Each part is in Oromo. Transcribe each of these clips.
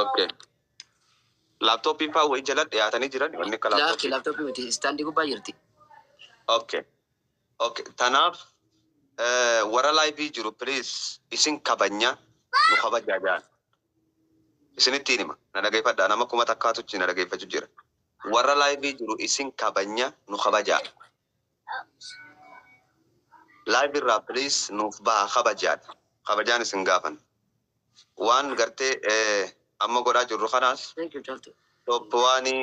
Okay. Laaptooppiin fa'aa wayii jala dhiyaatanii jiran wanni akka laaptooppii. Laaptooppii miti istaandii gubbaa jirti. Okay. Okay. Tanaaf eh, warra laayivii jiru please isin kabanya nu kabajaa jaan. Isinitti hima na dhageeffadha nama kuma takkaatu na dhageeffachuu jira. Warra laayivii jiru isin kabanya nu kabajaa. Live irraa please nuuf baha kabajaan kabajaan isin gaafan waan gartee amma godhaa jirru kanaas top waanii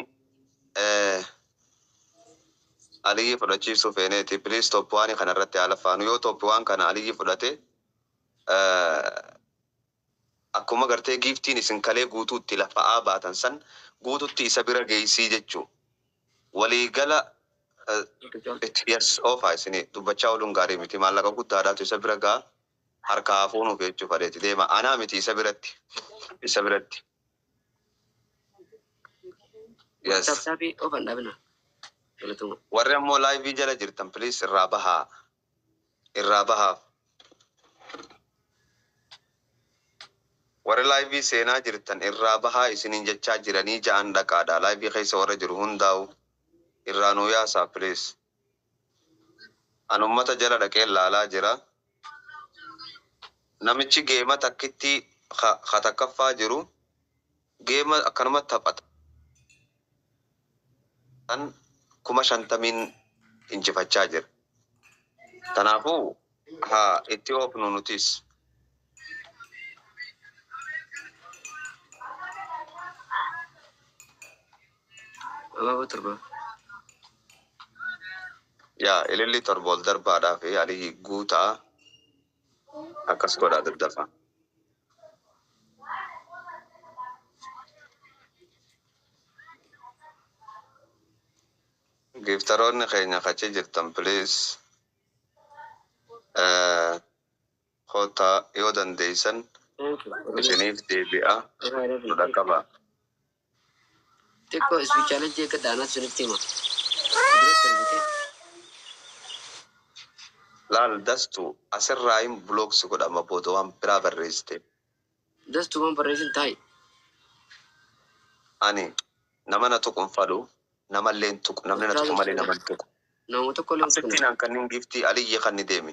aliyyii fudhachiisuu feeneeti please top waanii kana irratti haa lafaanu yoo top waan kana aliyyii fudhate Akkuma gartee giiftiin isin kalee guutuutti lafa'aa baatan san guututti isa bira geeysii jechu walii gala itti yes oofaa isin dubbachaa oluun gaarii miti maallaqa guddaadhaatu isa bira ga'a harkaa haa fuunuuf jechuu fadheeti deema anaa miti isa biratti isa biratti yes. Warri ammoo live jala jirtan please irraa bahaa. irraa baha. Warri live seenaa jirtan irraa bahaa isiniin jechaa jiranii ja'an dhaqaadha live keessa warra jiru hundaa'u irraa nuu yaasaa please. An ummata jala dhaqeen laalaa jira. Namichi geema takkittii ka takkaffaa jiru. Game akkanuma taphatan kuma shantamiin injifachaa jira. Kanaafuu haa itti oofnu nutis. Abaaboo torba. Yaa ililli torba ol darbaadhaa fi Aliyyii Guutaa Akkas godhaa daddafaa. Giiftaroonni keenya ka achi jirtan please koottaa yoo dandeessan isiniif deebi'aa nu dhaqqabaa. Xiqqoo ispiichaalee jeeqa daanaa sirriitti hima. Duratti argitee. Laal dastu asirraayin block si godha amma booda waan biraa barreessite. Dastu waan barreessin taa'i. Ani nama na tuqu hin fadhu namallee hin tuqu namni na tuqu malee nama hin tuqu. Nama tokkollee hin tuqne. Asittiin an kannin giftii aliyyi kanni deemi.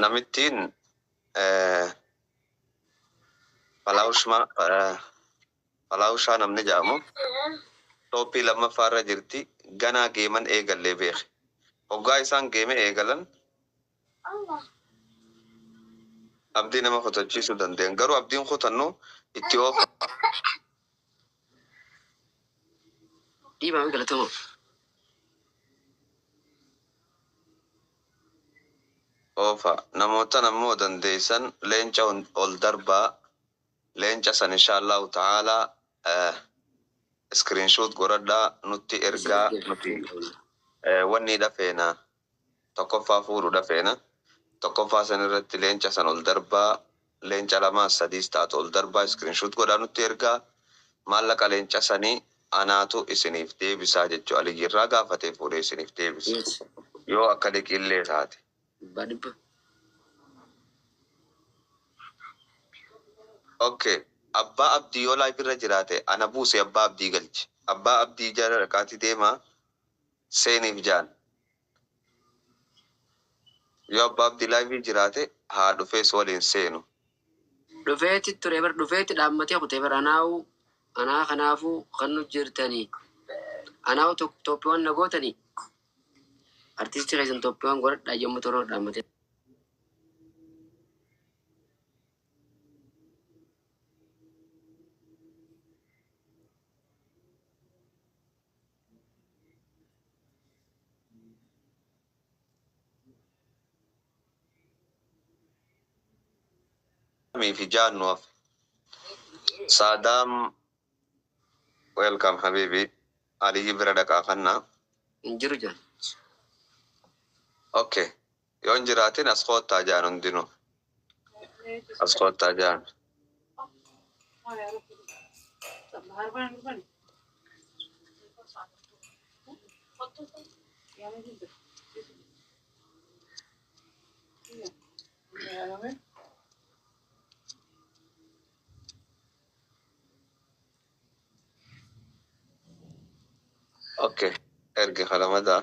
Namittiin Falaawushaa namni jedhamu tooppii lammaffaa irra jirti. Ganaa geeman eegallee beeki. Hoggaa isaan geeme eegalan abdii nama kutachiisuu dandayan. Garuu abdiin kutannu itti oofa. Dhiibaam galatooma. Oofa. Namoottan ammoo dandeessan leenca hun ol darbaa. Leenca san inshaallahu ta'aala screenshot godhadhaa nutti ergaa nuti wanniidha feena. tokkoffaa fuudhuudha feena. Tokkoffaa san irratti leenca san ol darbaa, leenca lamaas sadiis taatu ol darbaa screenshot godhaa nutti ergaa. Maallaqa leenca sanii anaatu isiniif deebisaa jechuu Aliyyi irraa gaafatee fuudhee isiniif deebisa. Yoo akka liqii illee taate. Ok abbaa abdii yoo live irra jiraate ana buusi abbaa abdii galchi. Abbaa abdii jara dhaqaatii deemaa. Seenif jaan yoo abba abdi live jiraate haa dhufee si waliin seenu. Dhufeeti ture bar dhufeeti dhaammatee kute bar anaawu anaa kanaafu kan nu jirtani anaawu tok toppiwan na gootani artisti keessan toppiwan godhadha yommu toroo dhaammatee. Saadaamii fi Jaan nu hafe. Saadaam welcome habibi Aliyyi bira dhaqaa kanna. Hin jiru jaan. Okay Yoo hin jiraatin as koottaa ja'an hundinuu. As koottaa ja'an. Okay. Erge kalamadaa.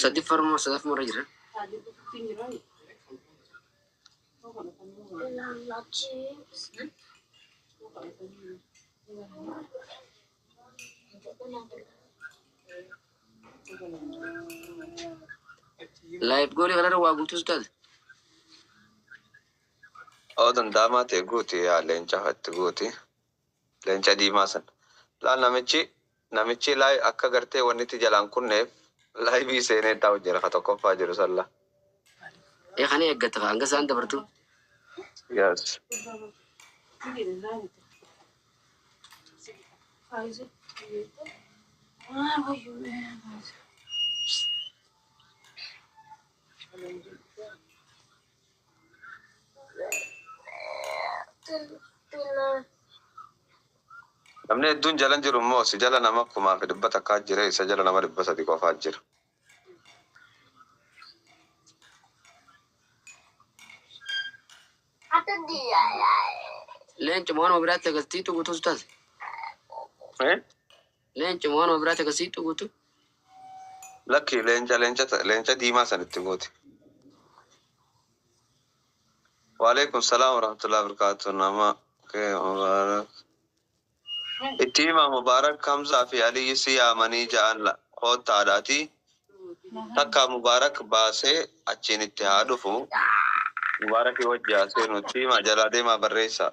Sadi farma sadaf mara jira. Live goli kanarra waa guutus taate. Oo danda'amaa ta'e guuti yaa leenca fatti guuti. Leenca diimaa san. Laal namichi Namichii live akka gartee wanni itti jalaan kunneef live seenee itti hojjera ka tokkoffaa jiru san la. Ee kana eeggatta ka hanga isaan dabartu. Yes. Namni hedduun jalan jiru immoo si jala nama kumaa fi dhibba takkaa jira isa jala nama dhibba sadi qofaa jira. Leenci moonuma biraatti agarsiitu guutuus taate. Eh? Leencuma waanuma biraati akka siittu guutu. Lakki leenca leenca ta- leenca diimaa san itti gooti. Waalaikum salaam warahmatullahi wabarakatuh nama kee mubaarak. Itti himaa mubaarak Hamzaa fi Aliyyi si yaamanii ja'an la koottaa dhaatii takkaa mubaarak baasee achiin itti haa dhufu mubaarakii wajji haa seenu itti himaa jalaa deemaa barreessaa.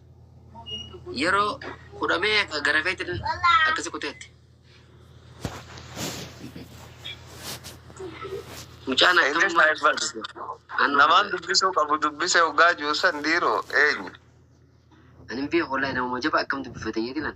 Yeroo hudhamee akka garafeetiin akkasi kuteetti. Mucaan Inni akkamummaa saayiba- barsiisu. Anuma Namaan barbaada. dubbisuu qabu dubbisee hoggaa jiru san dhiiroo eenyu? Ani hin beeku wallahi namuma jaba akkam dubbifate jedhinan.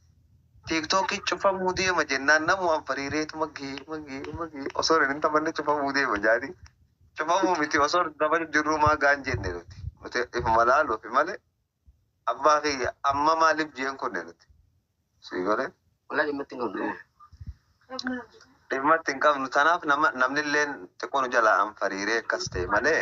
Tiktok cufamuu deema jennaan namumaan fariiree magee magee magee osoon hin taphanne cufamuu deema jaanii cufamuu miti osoon hin taphanne jirruu maa gaan jenne nuti nuti ifuma laaluufi malee abbaa kiyya amma maaliif jeen kunne nuti sii gole Walaa dhimmatti hin qabnu. dhimmatti hin qabnu tanaaf nama namnilleen xiqqoo nu jalaa an fariiree akkas ta'e malee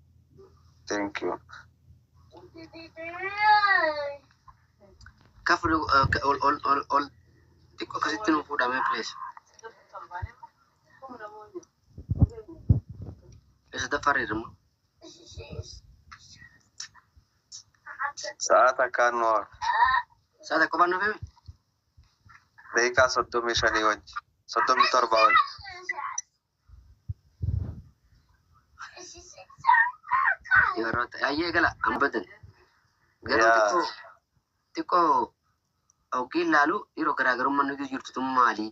Thank you. Akka fudhu akka ol ol ol ol xiqqoo akkasitti nu fuudhamee please. Isa daffareera immoo. Sa'aa takkaan nu hafe. Sa'a tokko baan nuuf himi. Daqiiqaa soddomii shanii wajji. Soddomii torbaa wajji. Yeroo ta'e ayyee gala amma badan. Garuu Yaa. xiqqoo xiqqoo hoggiin laalu yeroo garaagarummaa nuti jirtu tun maali?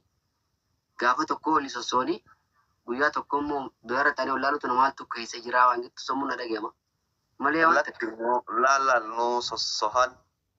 Gaafa tokko oli sossooni guyyaa tokko immoo biyyaarra taanee ol laalutu namaaltu keessa jiraa waan jettu sammuun na dhaga'ama. Malee waan ta'e. Lakki nu laalaal nu sossohan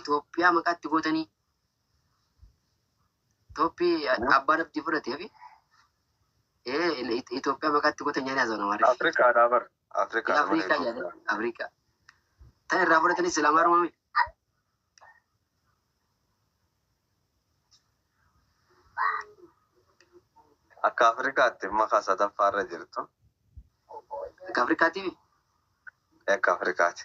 Itoophiyaa maqaa itti gootanii Itoophi abbaan abdii fudhatee fi Itoophiyaa maqaa itti gootan jedhanii haasawna maarree. Afrikaa dhaa bar. Afrikaa dha malee Afrikaa jedhanii Itoophiyaa. Afrikaa. Tan irraa fudhatanis silaa maaruma miti. Akka Afrikaatti maqaa sadaffaa irra jirtu. Akka Afrikaatiif Akka Afrikaatti.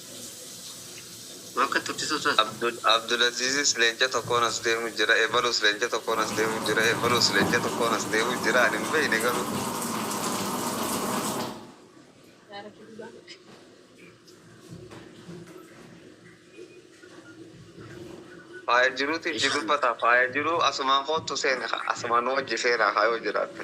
Abdulazizis lenca tokkoon as deemu jira ebalus lenca tokkoon as deemu jira ebalus lenca tokkoon as deemu jira ani hin beeyne garuu. Faaya jiruutiif jidubbata faaya jiruu asumaan koottu seeni asumaan nu wajji seenaa kaa yoo jiraatte.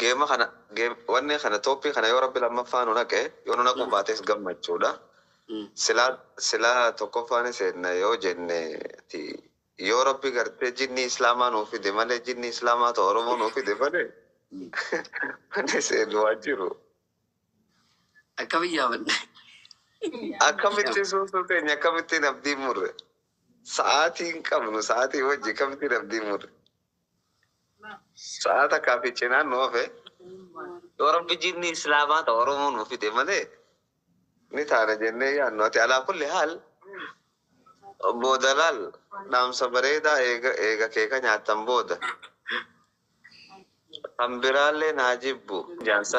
Game kana game wanni kana toppii kana yoo rabbi lammaffaa nu naqe yoo nu naquu baates gammachuudha silaa silaa tokkoffaa ni seenna yoo jenne ti yoo rabbi gartee jinnii islaamaa nuu fide malee jinnii islaamaa ta oromoo nuu fide malee wanni seennu waan jiru Akkamiin yaamanna? akkamitti suusuu teenya akkamittiin abdiin murre sa'aatii hin qabnu sa'aatii wajji akkamittiin abdiin murre Sa'a takkaa fi cinaan nu hafe yoo rabbi jinni islaamaa ta oromoo nu fide malee ni taana jennee yaannu ati alaa kulli haal obboo dalaal dhaamsa bareedaa eega eega kee ka nyaattan booda kan biraallee naa jibbu jaansa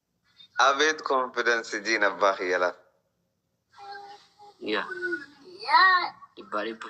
Abeet confidence jiin abbaa kiyya laf. Yaa dhibbaa dhibba.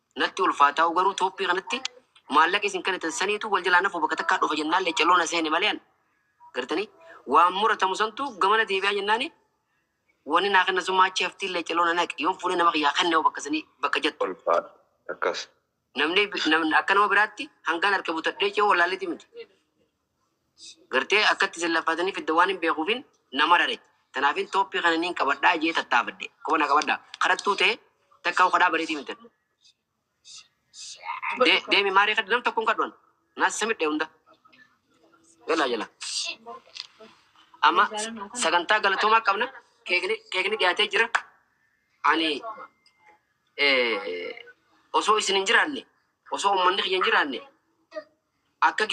Natti ulfaa taa'u garuu toopii kanatti maallaqa isin kanitan saniitu wal jalaa nafu bakka takkaa dhufa jennaan leccalloo na seene malee an gartanii waan muratamu santu gamana deebi'aa jennaani wani naa kenna summa achi haftii leccalloo na naqe yoon fuudhee nama kiyyaa kenne hoo bakka sanii bakka jattu ulfaadha akkas. Namni akka nama biraatti hangaan harka butadhee ce'uu wallaalleeti miti. Gartee akkatti isin laffaataniif edda waan hin beekuufin na marare. Tanaafin tooppii kana niin qabadhaa jee tattaafadhe. Koba na qabadha. Kadhattuu tee takka u kadhaa bareedii miti. De- Deemi maaree kadha nam tokkoon kadhuan. Naas isa midhe hunda. Galaa jala. Amma sagantaa galatoomaa qabna. Keekni keekni dhiyaatee jira. Ani eh, osoo isin hin jiraanne osoo uummanni kiyya hin jiraanne Akka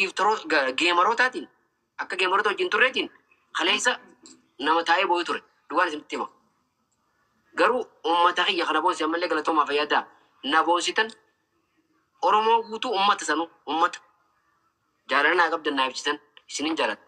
geemarootaatiin, akka geemaroota wajjin turreetiin kaleessa nama taa'ee booyu ture. Dhugaan isinitti hima. Garuu uummata kiyya kana boonsi ammallee galatoomaa fayyadaa na boonsitan Oromoo guutuu uummata sanuu uummata jaalala naa qabdan naa ibsitan isinin jaaladha.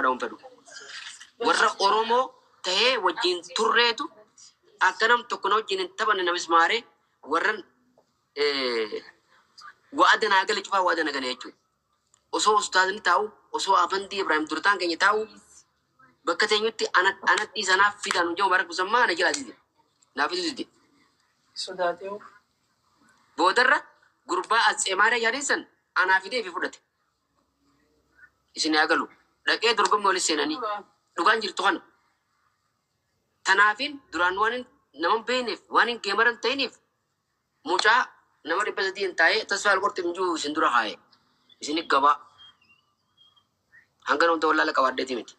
godhaun fedhu. Warra Oromoo ta'ee wajjin turreetu akka nam tokko na wajjin hin taphanne na mismaaree warran wa'ada naa gale cufaa wa'ada na gale jechuudha. Osoo ustaazni taa'u, osoo Afandii Ibraahim Durtaan keenya taa'u bakka teenyutti ana ana dhiisa naaf fidaa nuun jedhu Mubaarak Musammaa na jalaa dide. Naaf fiduu dide. Sodaatee of. Boodarra gurbaa Atseemaariyaa jedhaniin san anaa fidee ifi fudhate. Isin haa galu. Dhaqee dorgommii walitti seenanii. Dhugaan jirtu kana. Tanaafin duraan waan hin- nama hin beekneef waan hin geemaran ta'iniif Mucaa nama dhibba sadiin taa'ee tasfaa alqorxim jiru isin dura kaa'e. Isin gabaa. Hangan hunda wallaala qabaadheeti miti.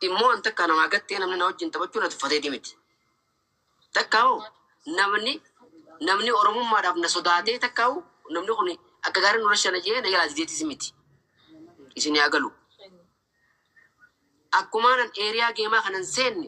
Immoo an takka namaa gattee namni na wajjin taphachuu na tuffateeti miti. Takka hoo namni namni oromummaadhaaf na sodaatee takka hoo namni kun akka gaarii nu rashana jee na jalaa dideetis miti. Isin yaa galu. Akkumaan an eeriyaa geemaa kanan seenne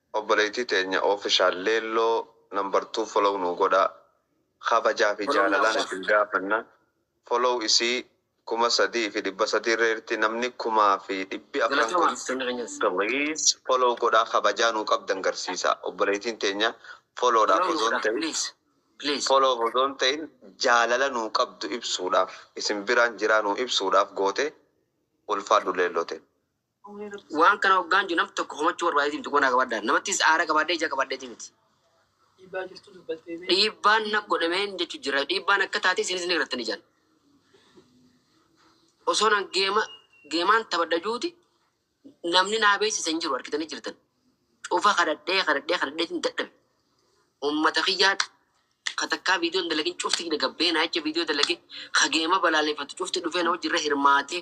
Obboleeytii teenya official leelloo number two follow nuu godhaa kabajaa fi Follow now jaalalaan sir. isin gaafanna follow isii kuma sadii fi dhibba sadii irra jirti namni kumaa fi dhibbi afran Galatoomaa kun artistoonni keenyas. please follow godhaa kabajaa nuu qabdan garsiisaa obboleeytiin teenya follow dhaaf Follow nuu osoon godhaa ta'in please please. follow dhaaf osoon ta'in jaalala nuu qabdu ibsuudhaaf isin biraan jiraa nuu ibsuudhaaf gootee ulfaadhu leelloo teenya. Waan kana hoggaan jiru nam tokko homachuu barbaadeeti miti qubanaa qabaadhaan. Namattis aara qabaadhee ija qabaadheeti miti. Dhiibbaan na godhameen jechu jira. Dhiibbaan akka taate isinis ni gartan ijaan. Osoo nan geema geemaan taphadha juuti namni naa beeksisa hin jiru argitanii jirtan. Cufa kadhadhee kadhadhee kadhadheetiin dadhabe. Uummata kiyyaa ka takkaa viidiyoon dalagin cufti gabbee naa jecha viidiyoo dalage ka geema balaaleffatu cufti dhufee na wajjirra hirmaatee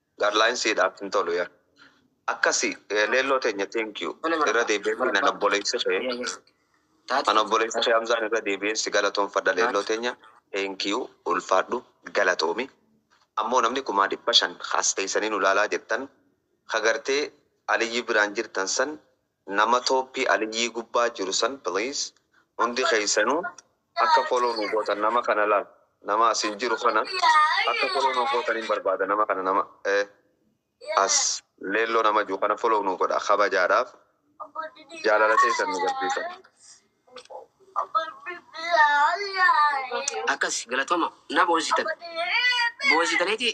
Garline siidhaaf hin tolu yaa. Akkasi leelloo teenya thank you irra deebi'ee fiinan obboleessi kee an obboleessi kee Hamzaan irra deebi'een si galatoomfadha leelloo teenya thank you ulfaadhu galatoomi ammoo namni kumaa dhibba shan as teessanii nu laalaa jettan ka gartee Aliyyi biraan jirtan san Nama toppii aliyyii gubbaa jiru san please hundi keessanu akka follow nu gootan nama kana laal nama asin jiru kana akka follow nu gootanin barbaada nama kana nama as leelloo nama jiru kana follow nu godha kabajaadhaaf jaalala teessan nu garsiisa. Akkasi galatoma na boonsitan boonsitaneeti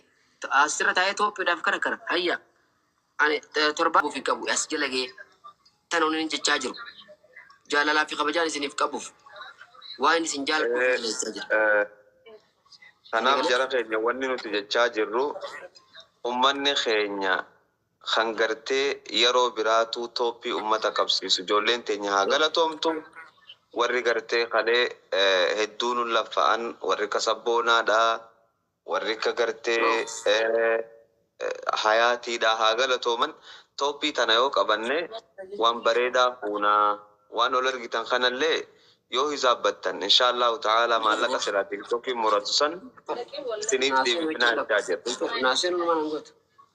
asirra taa'ee tooppidhaaf karakara hayya. Ani torbaan ofi qabu as jala ga'ee tan onin jechaa jiru jaalalaa fi kabajaan isiniif qabuuf waan isin jaaladhuuf na jala jechaa jira. Kanaaf jara keenya wanni nuti jechaa jirru ummanni keenya kan gartee yeroo biraa tuu tooppii ummata qabsiisu ijoolleen teenya haa galatoomtu warri gartee kalee hedduu nun laffa'an warri akka sabboonaadha, Warri akka gartee hayaatiidhaa haa galatooman toppii tana yoo qabanne waan bareedaa fuuna waan ol ergitan kanallee yoo hisaabbattan inshaallaahu ta'aalaa maallaqa silaa tiktokiin muratu san isiniif deebifnaa jechaa jirra.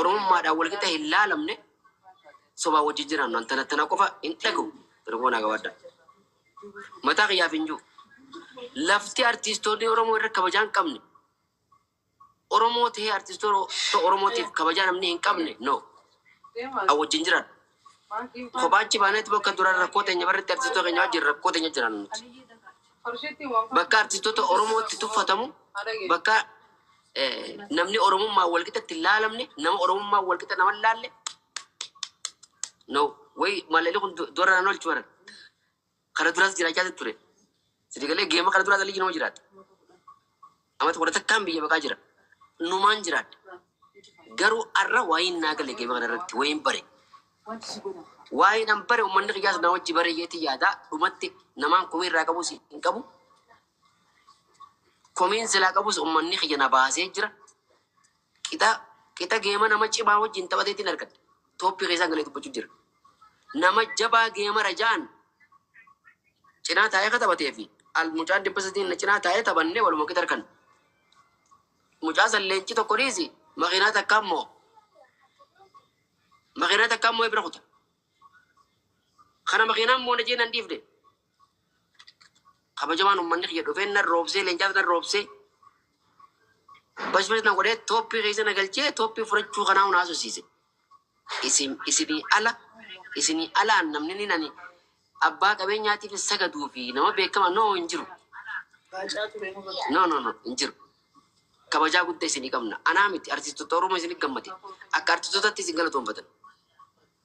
Oromummaadhaan walqixa hin laalamne sobaan wajjin jiraannu an tana tana qofa hin dhagahu Oromoo naa gabaadhaa. Mataa kiyyaaf hin jiru. Lafti artiistoonni Oromoo irra kabajaa hin qabne Oromoo ta'ee artiistoota Oromootiif kabajaa namni hin qabne no an wajjin jiraadhu. Kophaa achi baanetti bakka duraan rakkoo teenya barretti artistoota keenya wajjin rakkoo teenya jiraannu nuti. Bakka artistoota Oromootti tuffatamu, bakka namni Oromummaan walqixa itti laalamne, nama Oromummaan walqixa nama laalle, no way maalalii kun du'arra nan oolchu bara. Kana duraas jiraachaa ture. Sidi galee geema kana duraas ligi nama jiraate. Amata kudha takkaan biyya baqaa jira. Numaan jiraadhe. Garuu arra waa'een naa gale geema kana irratti waa'een bare. Waa'een an bare uummanni kiyyaas naa wajji bare jeeti yaada. Dhumatti namaan komii irraa qabus hin qabu. Komiin silaa qabus uummanni kiyya na baasee jira. Qixa qixa geema nama cimaa wajjin taphateettin argadhe. Tooppii keessaan galee dubbachuu jira. Nama jabaa geemara ja'an cinaa taa'ee ka taphatee fi al mucaan dhibba sadiin na cinaa taa'ee taphannee waluma qixa arganna. Mucaa san leenci tokko dhiisi makiinaa takka ammoo makiinaa takka ammoo bira kuta. Kana makiinaan moona jee nan dhiifne. Kabajamaan ummanni kiyya dhufee nan roobsee leencaas nan roobsee bashbash na godhee tooppii keessa na galchee tooppii furachuu kanaa hun haasofsiise. Isin isinii ala isinii alaan namni ni nani abbaa qabeenyaatiif sagaduu fi nama beekama noo hin jiru. No no no hin jiru. Kabajaa guddaa isinii qabna. Anaa miti artistoota Oromoo isinii gammade. Akka artistootatti isin galatoonfatan.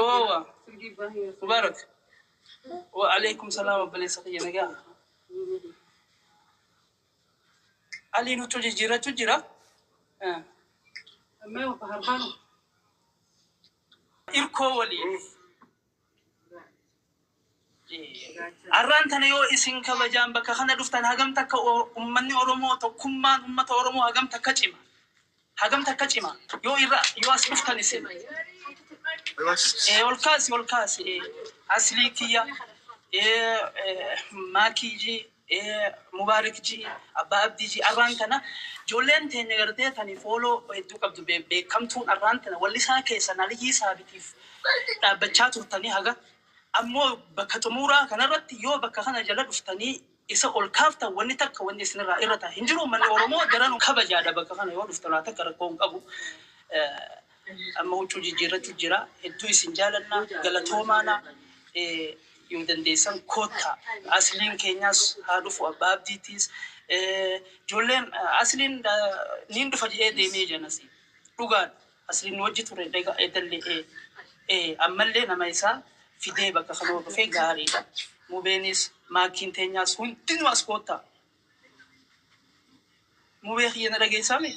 Owa. Mubarak. Wa alaikum salam obboleessa kiyya nagaa. Aliin huccuu jijjiirrachu jira. Eh, Irkoo waliin. Arraan tana yoo isin kabajaan bakka kana dhuftan hagam takka ummanni Oromoo tokkummaan ummata Oromoo hagam takka cima hagam takka cima yoo irra yoo as dhuftan isin ee ol kaasi ol kaasi ee aslii kiyya ee maakiyyii Mubarik G Abbaa Abdii G Arraan tana ijoolleen teenya gartee tani follow hedduu qabdu beekkamtuun arraan tana wallisaa keessan Aliyyii Saabitiif dhaabbachaa turtanii haga ammoo bakka xumuuraa kanarratti yoo bakka kana jala dhuftanii isa ol kaaftan wanni takka wanni isinirraa irrata hin jiru ummanni Oromoo daranuu kabajaadha bakka kana yoo dhuftan waa takka rakkoo hin qabu. Amma huccuu jijjiirratti jira. Hedduu isin jaalanna. Galatoomaana. Yoo dandeessan koottaa. Asliin keenyaas haa dhufu abbaa abdiitiis. Ijoolleen asliin niin dhufa jedhee deemee janasi. Dhugaadha. Asliin wajji ture daga edallee ee ammallee nama isaa fidee bakka kanoo dhufee gaariidha. Mubeenis maakiin teenyaas hundinuu as koottaa. Mubee kiyya na dhageessaamee?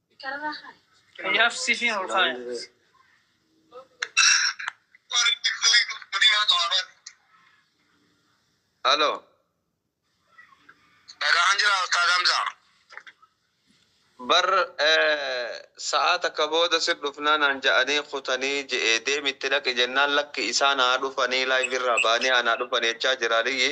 Kanaaf sifiin ol kaaya. Halo. Nagaan jira Ustaaz Hamzaa. Bar sa'aa takka booda sir dhufnaa naan ja'anii kutanii je'ee deemi itti dhaqi jennaan lakki isaan haa dhufanii laayivii irraa ba'anii anaa dhufanii jechaa jira aliyyi.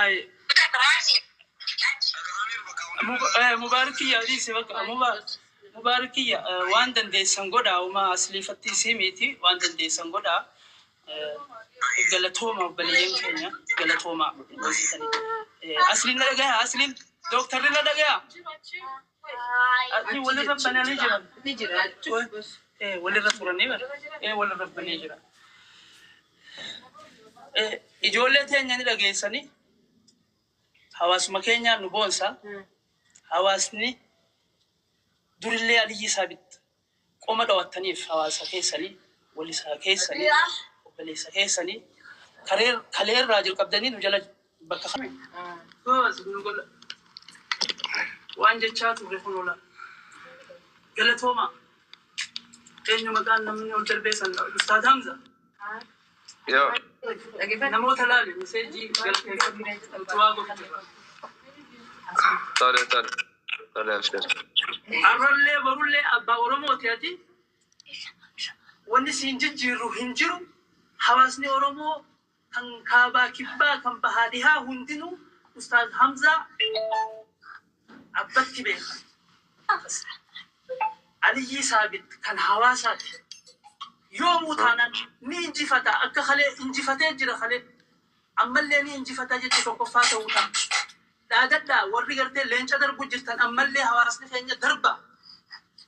Aye. Mub- Mubaarak kiyya adiise bakka Mubaarak Mubaarak kiyya eh, waan dandeessan godhaa uma asliifatti isii miti waan dandeessan godhaa Eh, galatooma obboleeyyan keenya galatooma Eh, asliin na dhagaya asliin dooktarri na dhagaya Asii wal irra bananii jiran. Ni jira. Ee wal irra turanii bar. Ee wal irra banee jira. Ee ijoollee teenya ni dhageessanii hawaasuma keenyaa nu boonsa. Hawaasni durillee aliyyii isaa bitta. Qoma dhawattaniif hawaasa keessani, walisaa keessani, obboleessa keessani karee kalee irraa jalqabdanii nu jala bakka kami gozi nu godha waan jechaa turre kunoo laal. Galatoomaa. Eenyu maqaan namni ol darbee san ustaaz Hamza. Yoo. Namoota laali miseejii galteeffadhu utubaa gochuuf. Tole tole tole abshir. Arrallee borullee abbaa oromooti ati wanni siin jijjiirru hin jiru hawaasni oromoo kan kaabaa kibbaa kan bahaa dhihaa hundinuu ustaaz hamzaa. Abbatti beekan Abbas Aliyyii Saabit kan Hawaasaati. Yoomuu taanaan ni injifata akka kalee injifatee jira kalee ammallee ni injifata jecha tokkoffaa ta'uu ta'a. Dhaadadhaa warri gartee leenca darbuu jirtan ammallee hawaasni keenya darbaa.